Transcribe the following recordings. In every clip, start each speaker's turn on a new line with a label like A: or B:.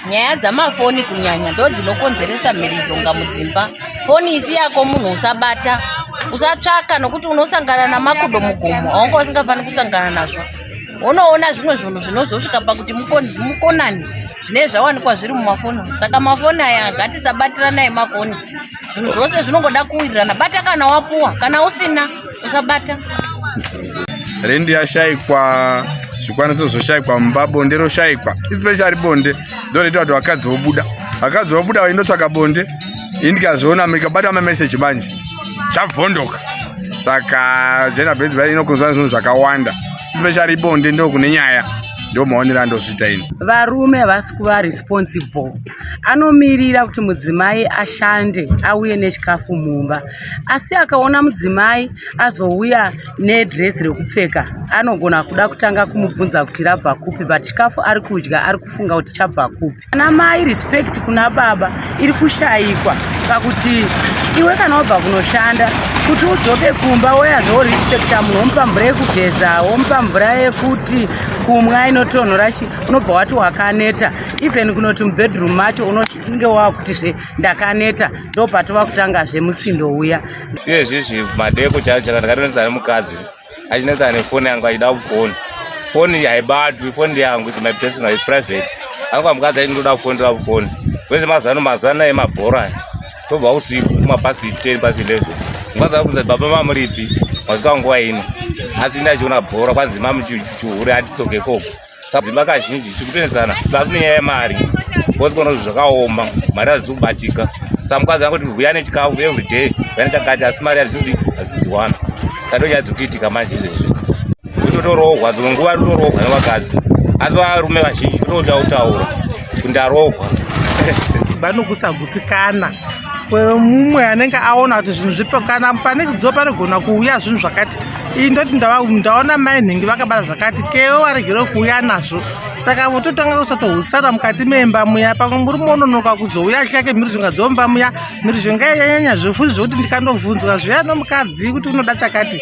A: nyaya dzamafoni kunyanya ndo dzinokonzeresa mhirizhonga mudzimba foni isi yako munhu usabata usatsvaka nokuti unosangana namakudo mugomo aunga usingafaniri kusangana nazvo unoona zvimwe zvinhu zvinozosvika pakuti mukonani zvine zvawanikwa zviri mumafoni saka mafoni aya ngatisabatiranai mafoni zvinhu zvose zvinongoda kuwirirana bata kana wapuwa kana usina usabata
B: rendi yashaikwa zvikwanisiro zvoshaikwa mumba bonde roshaikwa especially bonde ndonoita kuti vakadzi vobuda vakadzi vobuda vaindotsvaka bonde ini ndikazviona ndikabata mameseji manje chabvondoka saka jena benzi bai inokonzwa zvinhu zvakawanda especially bonde ndokune nyaya ndomaonera ndozviita ini varume havasi kuva
C: responsible anomirira kuti mudzimai ashande auye nechikafu mumba asi akaona mudzimai azouya nedresi rekupfeka anogona kuda kutanga kumubvunza kuti rabva kupi but chikafu ari kudya ari kufunga kuti chabva kupi ana mai respect kuna baba iri kushayikwa pakuti iwe kana wabva kunoshanda kuti udzoke kumba woyazvo respecta munhu womupa mvura yekugeza womupa mvura yekuti kumwa inotonhora chi unobva wati wakaneta even kunoti mubedroom macho unonge wakuti zve ndakaneta ndopatova kutanga zve musindo uya iye zviizvi
D: madeko chaivo chaka ndakatonetsa nemukadzi achinetsa nefoni yangu achida kufoni foni haibatwi foni yangu is my personal is private angu amukadzi aiti ndoda kufoni ndoda kufoni wese mazuva ano mazuva naye mabhora aya tobva usiku kumapasi ten pasi eleven mukadzi akuza baba mamuripi masvika nguva ino asi ndachiona bhora kwanzi mamuchihure atitokekoko dzimba kazhinji tiri kutoenzana vave nenyaya yemari bcause kona zvakaoma mari hazizi kubatika sa mukadzi angoti huya nechikafu everyday huya nechakati asi mari hadzidi haziziwana kato nyaya dziri kuitika manje izvezvi kutotorohwa dzimwe nguva totorohwa nevakadzi asi varume vazhinji totoda kutaura kundarohwa vanokusagutsikana
E: kwemumwe anenge aona kuti zvinhu zvipokana pane kidzo panogona kuuya zvinhu zvakati iyi ndoti ndaona mai nhingi vakabara zvakati kewo varegere kuuya nazvo saka vototanga kusatohusana mukati memba muya pamwe muri mononoka kuzouya chake mhirizhonga dzomba muya mhirizhonga yanyanya zvefuti zvekuti ndikandobvunzwa zviya nomukadzi kuti unoda chakati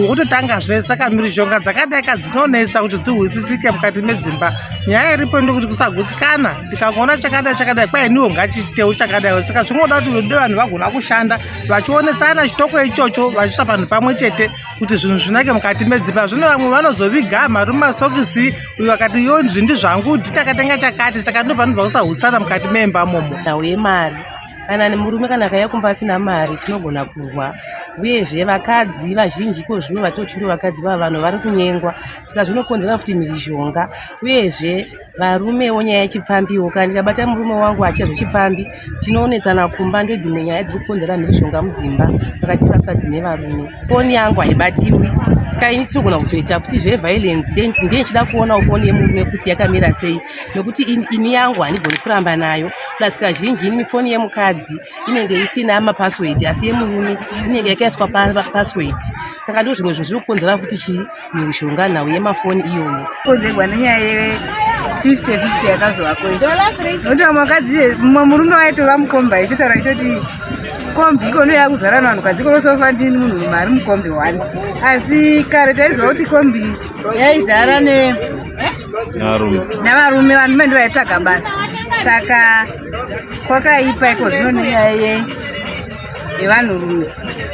E: wototanga zve saka mhirizhonga dzakadaika dzinonetsa kuti dzihwisisike mukati medzimba nyaya iripo ndokuti kusagutsikana ndikangoona chakadai chakadai kwainiwo ngachiitewo chakadaiwo saka zvingoda kuti vedu vanhu vagona kushanda vachionesana chitoko ichocho vachiisa panhu pamwe chete kuti zvinhu zvinake mukati medzipa zvino vamwe vanozoviga mari mumasokisi uyo akati yo izvi ndizvangu nditakatenga chakati saka ndovanobva kusahusana mukati meimba momo nhau yemari
F: kana nemurume kana akaya kumba asina mari tinogona kurwa uyezve vakadzi vazhinji ko zvino vatoti ndo vakadzi vava vanhu vari kunyengwa saka zvinokonzera kuti mhirizhonga uyezve Varume wo nyaya yechipfambi wo kana ndikabata murume wangu achia zvechipfambi tinoonetsana kumba ndodzimwe nyaya dziri kukonzera mhirizhonga mudzimba pakati pevakadzi nevarume foni yangu haibatiwi saka ini tinogona kutoita futi zveviolence then ndiye ndichida kuonawo foni yemurume kuti yakamira sei nokuti ini yangu handigoni kuramba nayo plus kazhinji ini foni yemukadzi inenge isina mapassword asi yemurume inenge yakaiswa papassword saka ndo zvimwe zvinhu zviri kukonzera futi chii mishonga nhau yemafoni iyoyo kodzegwa nenyaya ye
G: 50 50 yakazovako notova mwakadzi mumwe murume waitova mukomba ichotaura ichoti kombi ikono yakuzara navanhu kazi ikonosofa ndini munhu murume ari mukombi one asi kare taiziva kuti kombi yaizara ne navarume vanhu mende vaitsvaga basa saka kwakaipa iko zvino nenyaya yei yevanhurume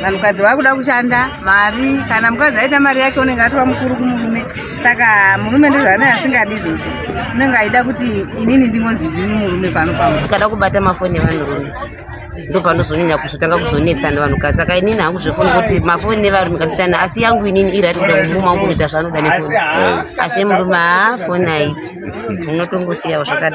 G: vanhukadzi vakuda kushanda mari kana mukadzi aita mari yake unenge atova mukuru kumurume saka murume ndozvaanenge asingadi izvozvo unenge aida kuti inini ndingonzi ndini murume pano pamo kada kubata mafoni
H: evanhurume ndopanozonyanya kuzotanga kuzonetsa nevanhukadzi saka inini hangu zvefoni kuti mafoni nevarume kasiyana asi yangu inini iri ati kuda kumuma wangu kuita zvaanoda nefoni asi emurume haa foni aiti unotongosiyawo zvakadai